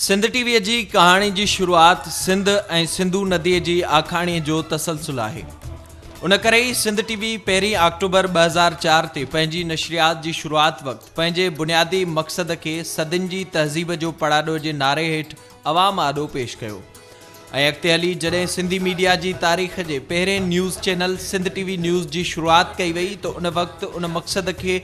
Sindh T V جي ڪهاڻي جي شروعات سنڌ ۽ سنڌو نديء جي آکاڻيء جو تسلسل آهي. ان ڪري ئي سنڌ ٽي وي پهرين آڪٽوبر ٻه هزار چار تي پنهنجي نشريات جي شروعات وقت پنهنجي بنيادي مقصد کي صدين جي تهذيب جو پڙاڏو جي نعري هيٺ عوام آڏو پيش ڪيو. ۽ اڳتي هلي جڏهن سنڌي ميڊيا جي تاريخ جي پهرين news channel Sindh T V news جي شروعات ڪئي وئي ته ان وقت ان مقصد کي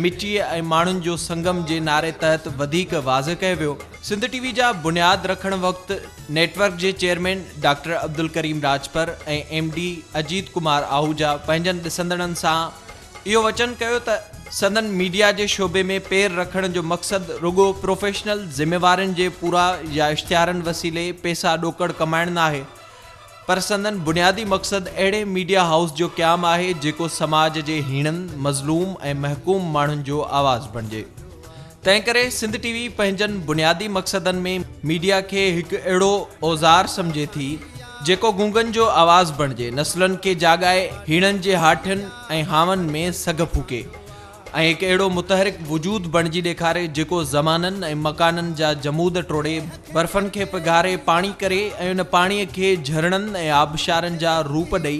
مٽيء ۽ ماڻهن جو سنگم جي نعري تحت وڌيڪ واضح ڪيو ويو. سنڌ ٽي وي جا بنياد رکڻ وقت نيٽ ورڪ جي chairman doctor Abdulkarim Rajpar ۽ M D Ajit Kumar Ahuja پنهنجن ڏسندڙن سان اهو وچن ڪيو ته سندن ميڊيا جي شعبي ۾ پير رکڻ جو مقصد رڳو پروفيشنل ذميوارين جي پورا يا اشتهارن وسيلي پئسا ڏوڪڙ ڪمائڻ ناهي پر سندن بنيادي مقصد اهڙي ميڊيا هائوس جو قيام آهي جيڪو سماج جي هيڻن، مظلوم ۽ محڪوم ماڻهن جو آواز بڻجي. تنهنڪري سنڌ ٽي وي پنهنجن بنيادي مقصدن ۾ ميڊيا کي هڪ اهڙو اوزار سمجهي ٿي جيڪو گونگن جو آواز بڻجي نسلن کي جاڳائي هيڻن جي هاٺين ۽ هانون ۾ سگهه ڦوڪي ۽ هڪ اهڙو متحرڪ وجود بڻجي ڏيکاري جيڪو زمانن ۽ مڪانن جا جمود ٽوڙي برفن کي پگهاري پاڻي ڪري ۽ ان پاڻي کي جهرڻن ۽ آبشارن جا روپ ڏئي